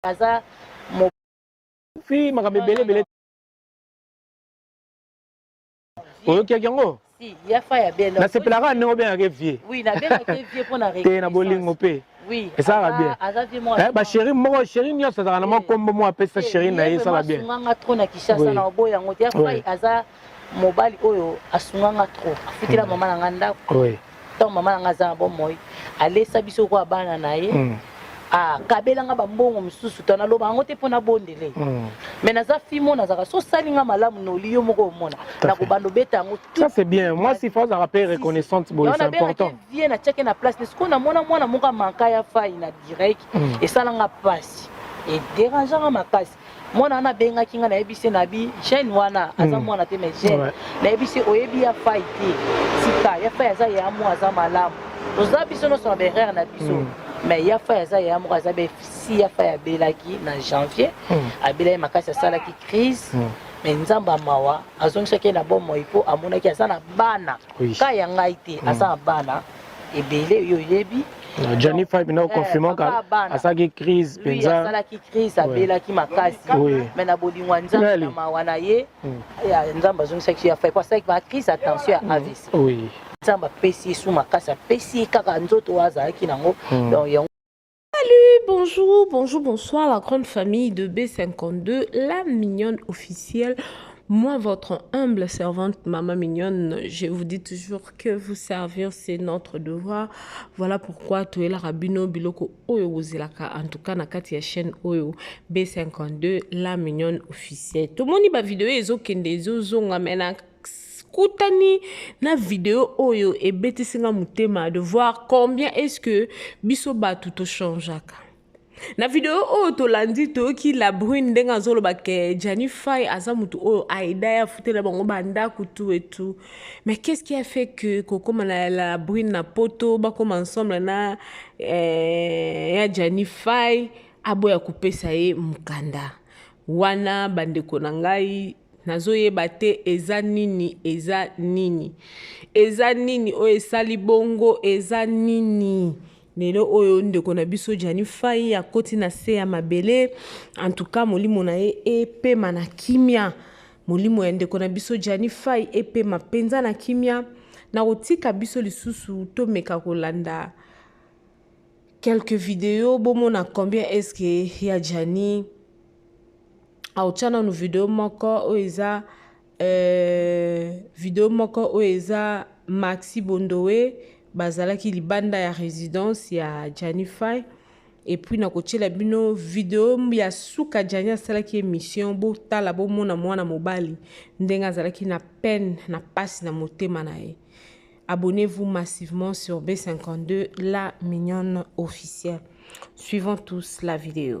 aza fi makambo ebele ebele oyokaki yango nasepelaka ya ndenge obengaka vie te na bolingo mpe esalaka bien eh, basheri moko sheri nyonso azalaka na mwa nkombo moko apesa sheri na ye esalaka bien mobali oyo asunga nga trop afutela mm. mama na nga ndako oui. ntango mama na nga aza na bomoi alesa biso kwa bana na ye mm. akabela nga bambongo mosusu to naloba yango te mpo nabondele mm. me naza fimo nazalaka so osali nga malamu noli yo moko omona nakobanda obeta yango ça c'est bien mwasi fo azalaka mpe reconnaissante boye c'est important vie natiaki na place ne sikoyo namona mwana moko amanka ya fai na direct mm. esala nga mpasi ederangeanga makasi mwana wana abengaki ngai nayebisi ye nabi jeune wana aza hmm. mwana te mais jeune nayebisi oyebi ya fai te tika ya fai aza ya mwa aza malamu toza biso nyonso na berere na biso hmm. mais ya fai aza ya moko aza befsi ya fai abelaki na janvier hmm. abelaki makasi asalaki crise me nzambe ya mawa azongisaki ye na bomoi mpo amonaki aza na bana ka ya ngai te aza na bana ebele yo oyebi Johnny Five na confirmant ka asaki crise penza asalaki crise abelaki makasi mais na bolingo nzambe na mawa na ye nzambe azongisaki ya Five asalaki ba crise attention ya AVC nzambe apesi ye su makasi apesi ye kaka nzoto oyo azalaki nango donc yango Salut, bonjour, bonjour, bonsoir la grande famille de B52, la mignonne officielle. Moi, votre humble servante, Maman Mignonne, je vous dis toujours que vous servir, c'est notre devoir. Voilà pourquoi tu es la rabino biloko oyo bozilaka, en tout cas na kati ya chaîne oyo B52, la Mignonne officielle. Tomoni ba vidéo ezo kende ezo zonga mais na kutani na video oyo ebetisi nga motema de voir combien est-ce que biso bato tochangeaka na video oyo tolandi toyoki la brune ndenge azoloba ke jani fai aza motu oyo aida ye afutela bango bandako tu etu mais qu'est ce qui a fait que kokóma na la brune na poto bakóma ensemble na eh, ya jani fai aboya kopesa ye mokanda wana bandeko na ngai Nazoyeba te eza nini eza nini eza nini oyo esali bongo eza nini lelo oyo ndeko na biso Gianni Fai akoti na se ya mabele antuka molimo na ye epema na kimia molimo ya ndeko na biso Gianni Fai epema mpenza na kimia na kotika biso lisusu tomeka kolanda quelques videos bomona combien est-ce que ya Gianni aotya nanu video moko oyo eza euh, video moko oyo eza maxi bondowe bazalaki libanda ya résidence ya janify epuis nakotyela bino video ya suka jani asalaki émission botala bomona mwana mobali ndenge azalaki na peine na mpasi na motema na ye abonnez-vous massivement sur b52 la mignonne officielle suivons tous la vidéo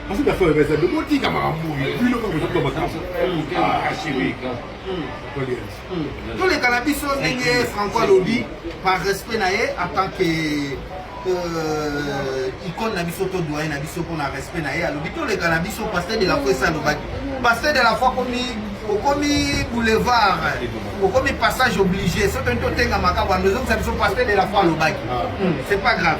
Parce que la femme est bon, dit qu'à Marambou, puis le corps est pas ma case. Ah, chérie. Tous les cannabis sont nés Franco Alobi par respect naé en tant que euh, icône na biso to doyen na biso mpona respect na ye alobi toleka na biso pasteur de la foi esi alobaki pasteur de la foi komi okomi boulevard okomi passage obligé soki toni totenga makambo ando ezongisa biso pasteur de la foi alobaki ah. hmm, c'est pas grave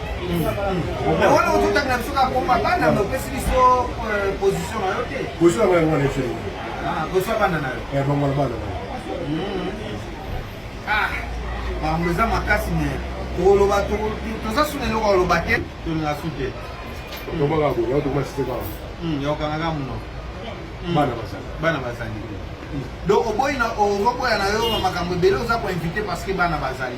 bango eza makasi me tokoloba toza suna eloko aloba te tolinga su te yokangaka muno bana bazali donc oboyi ozoboya na yo makambo ebele oza koinvite parce que bana bazali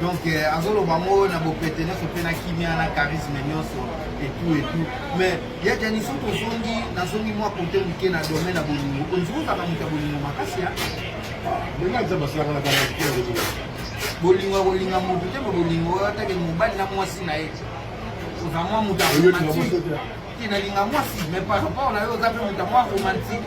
donc euh, azoloba yango na bopete nyonso mpe na kimia na charisme nyonso etout etout mais ya jani soki ozongi nazongi mwa kote moke na domaine ya bolingo ondimi ozalaka moto ya bolingo makasi ya bolingo ya kolinga moto te ma bolingo oyo atake mobali na mwasi na ye oza mwa moto ya romantique te nalinga mwasi mais par rapport na yo oza mpe moto ya mwa romantique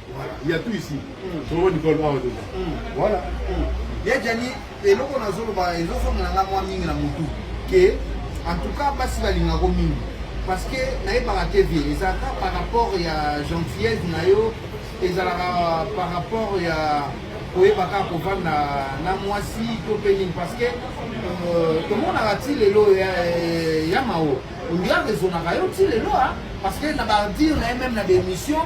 Il y a tout ici. Solo Nicole Bawa Doka. Voilà. Ya Djani, eloko na zolo ba ezo songa na mwa mingi na mutu. Que en tout cas basi balinga ko mingi. Parce que na yebaka te vie ezalaka par rapport ya gentillesse na yo ezalaka par rapport ya koyeba kaka kovanda na mwasi to mpe nini parce que euh, tomonaka ti lelo ya mao ondira rezonaka yo ti lelo parce que na badire na ye meme na baémission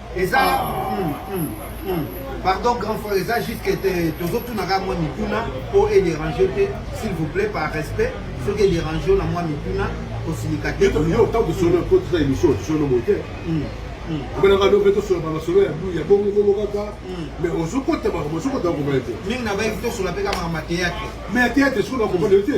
eza hmm, hmm, hmm. pardon grand frère eza jusque tozotunaka mwa mituna mpo edérange te s'il vous plaît par respect soki edérange yo na mwa mituna kosilika te yo ntango tosolo kotisa émission tosolo boye te obenaka do mpe tosoloka masolo ya blu ya bongobongo kaka mais ozokota makambo ozokota makomana te mingi na bayebi tosolola mpe kaka makambo ya théâtre mais ya théâtre soki nakomana yo te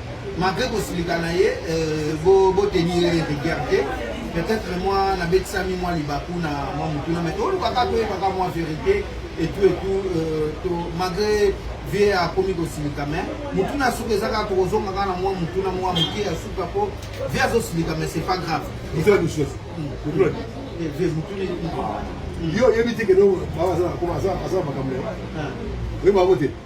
malgré kosilika na ye euh, botenir ye rigueur te peut-être mwa nabetisami mwa libaku na mwa motuna mai tolukaka toyebaka mwa vérité etout etout euh, to malgré vie akomi kosilika mai motuna ya suka eza kaka tokozonga kaka na mwa motuna mwa moke ya suka mpo vie azosilika mai c'est pas grave yo oyebi te keno aza makambo na yo oyebi bango te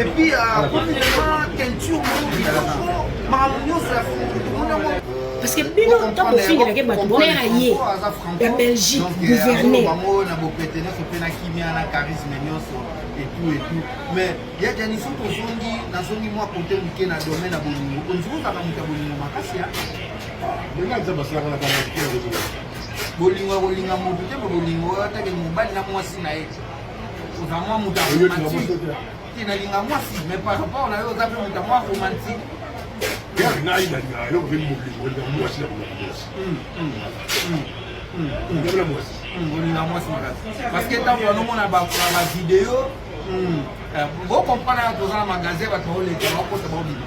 epuis akomi vraiment teinture moko kitoko makambo nyonso ya fungu tomoni yango parce que bino ntango bofingelake bato bonera ye ya belgique gouverne bango na bopete nyonso mpe na kimia na charisme nyonso etout etout mais ya jani soki ozongi nazongi mwa kote moke na domaine ya bolingo onziki ozalaka moto ya bolingo makasi ya ndenge aza basalaka na bana bolingo ya kolinga moto te bolingo atake mobali na mwasi na ye oza mwa moto ya romantique te nalinga mwasi mais par rapport na yo oza mpe moto ya mwa romantique yaki nayi nalinga eloko mpe molingo elinga mwasi na kolinga mwasi ndabela mwasi olinga mwasi makasi parce que ntango banomona bavideo bocomprendre ya toza na magasin bato baoleka bakota baobima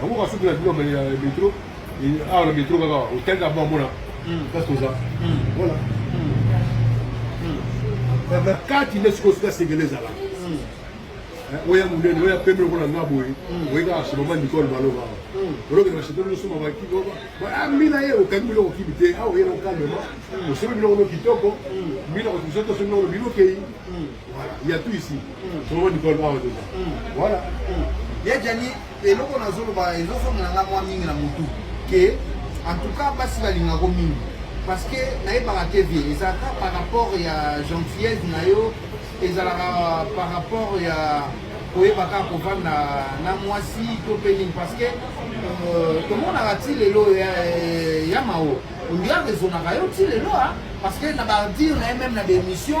yango ka soki na bino mali ya metro awa na metro kaka otali na bamona place toza voilà na kati nde sikoyo sika sengele ezala oya monene oya pembe lokola nga boye oye kaka chez mama nicole baloba olokende bachete losoma bakimina ye okangi biloko kimi te awa oyena okalema osomi biloko no kitoko mbina kotisotoso biloko bino kei Voilà, il y a tout ici. Mm. Trop du col bas dedans. Mm. Voilà. Mm. Ya Gianni, eloko nazoloba ezosonga na nga mwa mingi na mutu ke en tout cas basi balingako mingi parce que nayebaka te vie ezalaka par rapport ya gentillesse na yo ezalaka par rapport ya koyeba kaka kovanda na mwasi to mpe nini parce que euh, tomonaka ti lelo ya mao ondira rezonaka yo ti lelo parce que na badire na ye meme na baémission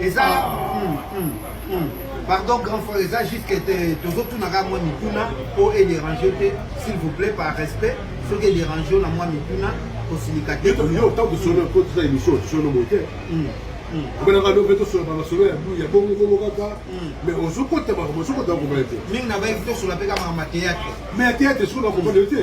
eza hmm, hmm, hmm. pardon grand frère eza jusque tozotunaka mwa mituna mpo edérange te s'il vous plaît par respect soki edérange yo na mwa mituna kosilika te yo ntango tosolo kotisa émission tosolo boye te obelaka lobe tosola bamasolo ya bongo bongo kaka mais ozokota makambo ozokota makomana te mingi na bayebi tosola mpe kaka makambo ya théâtre mais ya théâtre soki nakomana yo te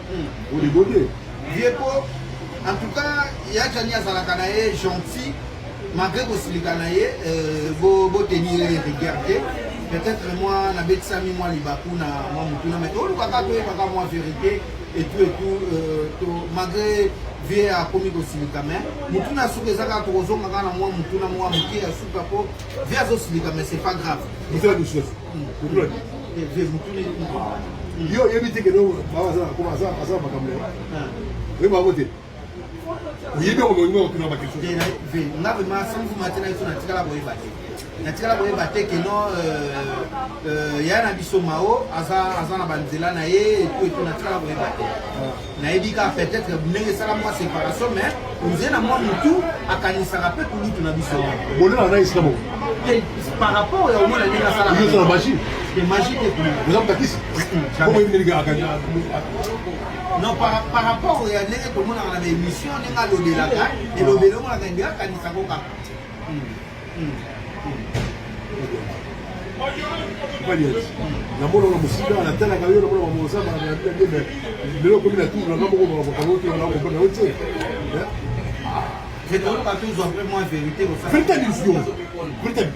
Bodigode. Vieux Po, en tout cas, Yachani azalaka na ye gentil, malgré kosilika na ye, euh, bo, bo tenir ye rigueur te. Peut-être moi, na betisami moi libaku na moi mutuna, mais toluka kaka toyebaka moi vérité et tout et tout, euh, to, malgré vie akomi kosilika mais mutuna suka eza kaka tokozonga kaka na mwa mutuna mwa moke ya suka po vie azosilika mais c'est pas grave yo oyebi te kende aza makambo lelo oyebi bango te oyebi yango bolingo okotuna bakristo nga vrema samfuma te na biso natikala koyeba te natikala koyeba te ke non ya na biso mao aza na banzela na ye etu etu natikala koyeba te nayebi kaka peut-être ndenge esala mwa séparation mais ozie na mwa motu akanisaka mpe kulutu na biso bolona na esika bo par rapport ya omona ndenge asalaka magie te magie te oza motakisi non par rapport ya ndenge tomonaka na baémission ndenge alobelaka elobeli omonaka ndenge akanisaka kaka namonaka mosika natalaka yo namonaka moza baabebe lelo okomi na tour nanga moko makambo te wana okomona yo te verité nizio verité nizio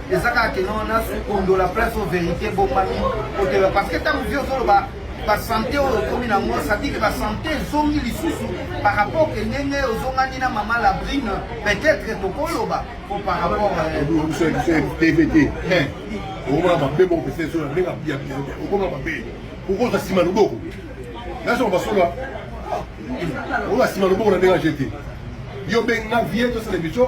eza kaka kende wana kondola place o verité ebomami koteba parce que ntango vie ozoloba basante oyo okomi nango sadike basante ezongi lisusu par rapport ke ndenge ozongani na mama labrine peut-être tokoloba po par rapport tvt okomona mabe moko pesa esola ndenge abiya okomona mabe okozwa nsima loboko nasoka basola oyo asima loboko na ndenge ajete yo benga vie tosala emission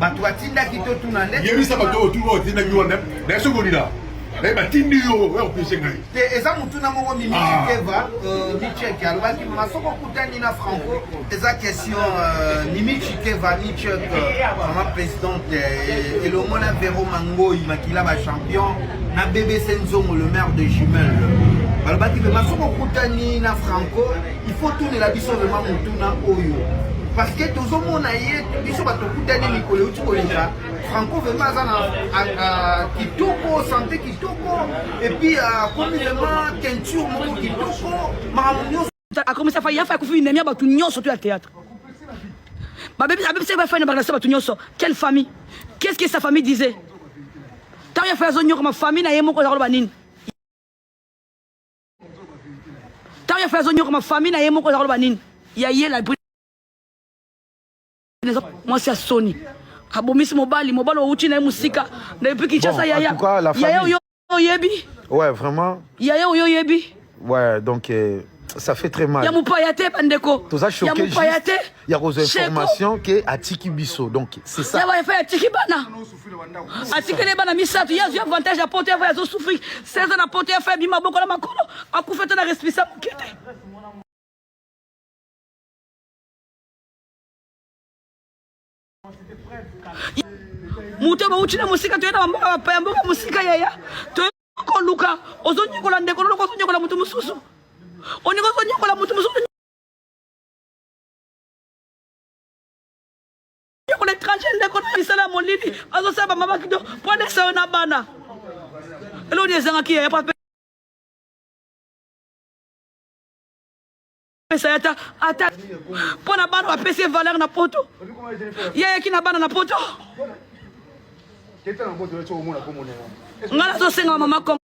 bato batindaki totuna nde yebisa bato oyo tuna otindaki wana naye soki olina naye batindi yo oya kopese ngai te eza motuna moko mimikeva ah. euh, micheke alobaki mama soki okutani na franco eza question euh, mimichi keva michek mama présidente euh, elongo na vero mangoi makila bachampion na bbc nzongo le maire de jumelle balobaki mama soki okutani na franco Il faut tunela biso vraiment motuna oyo parce que tozomona ye biso bato okutani mikolo euti koleka franco vraimen aza na kitoko sante kitoko epuis akomi vraimen teinture moko kitoko makambo nyonso akomisa fa yafa akufi inemi ya bato nyonso to ya théâtre abebisaki bafai na barelation bato nyonso quelle famille qu'est ce que sa famille disait ntango ya fai azonyokama famille na ye moko eza koloba nini ntango ye fale azonyokama famille na ye moko eza koloba nini ya ye la mwasi ya soni abomisi mobali mobali owuti na ye mosika na epi kinshasa yaya yaya oyo oyebi ouais vraiment yaya oyo oyebi ouais donc euh... ça fait très mal ya mopaya te bandeko toza choqué ya mopaya te ya kozwa information ke atiki biso donc c'est ça ya baefa atiki bana atikeli bana misato ye azwi avantage ya poto ya fai azosouffrir 16 ans na poto ya fai abimi maboko na makolo akufi ata na respisa moke te moto oyo bauti na mosika toye na bamboka bapaya mboka mosika yaya toye koluka ozonyokola ndeko loloko ozonyokola moto mosusu oninga ozonyokola moto mosusu yoko na étranger ndeko na misala ya molili azosala bamama kido mpo alesa yo na bana eloni ezangaki yaya mpo apesa ata ata mpo na bana bapesi ye valeur na poto yayaki na bana na poto nga nazosenga mama kongo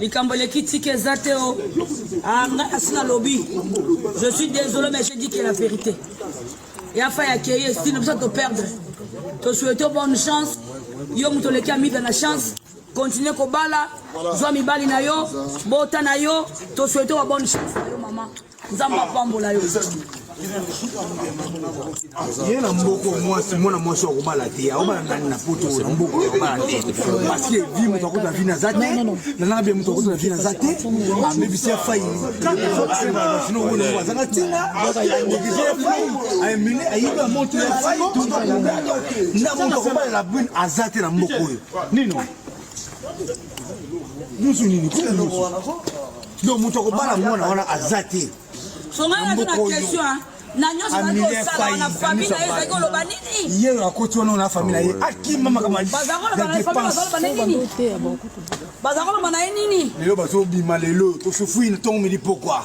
likambo eleki tike eza te o ah, nga asi nalobi je suis désolé mais je dis que la vérité ya fa ya keye estine biso toperdre tosuete bonne chance yo moto oleki amida na chance continue kobala zwa mibali na yo bota na yo tosuete wa bonne chance na yo mama nzambe apambola yo ye na mboko mwasi mwana mwasi wa kobala te aobala nani na poto na mboko ya kobala te parceke vi moto akuta vi naza te nananga bie moto akuta na vi naza te amebisi ya fai sino oyo azanga ntina neglige ya fai amene ayibi ya moto ya fai na moto akobalela brune aza te na mboko oyo nino Nusu nini? Kuna nusu. Donc moto akobala mwana wana aza te. Songa na question hein. na nyonso bazali kosala na famille na ye ezali koloba nini ye oyo akoti wana na famille na ye akima makambo baza koloba na ye nini lelo bazobima lelo tosufui na ntongo midi pokwa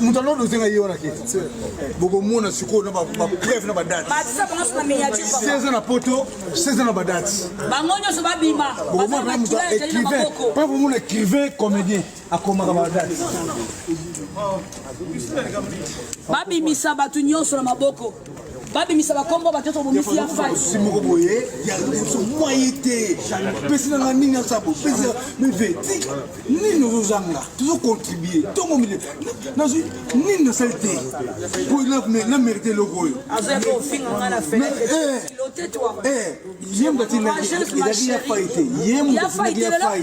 moto alonda ozenga ye wana te bokomona sikoyo na bapreuve na badate seza na poto seza na badate bango nyonso babima bokomona moto écrivain pa bomona écrivain comédien akomaka badate babimisa bato nyonso na maboko babimisa bakombo bato nyonso bomisi ya fasi moko boye ya liboso mwaye te pesi nanga nini asala bopesi meveti nini ozozanga tozocontribue ntongo mile nazwi nini nasali te po na merite eloko oyo yemba tinaki ezalaki ya fai te yemba tinaki ya fai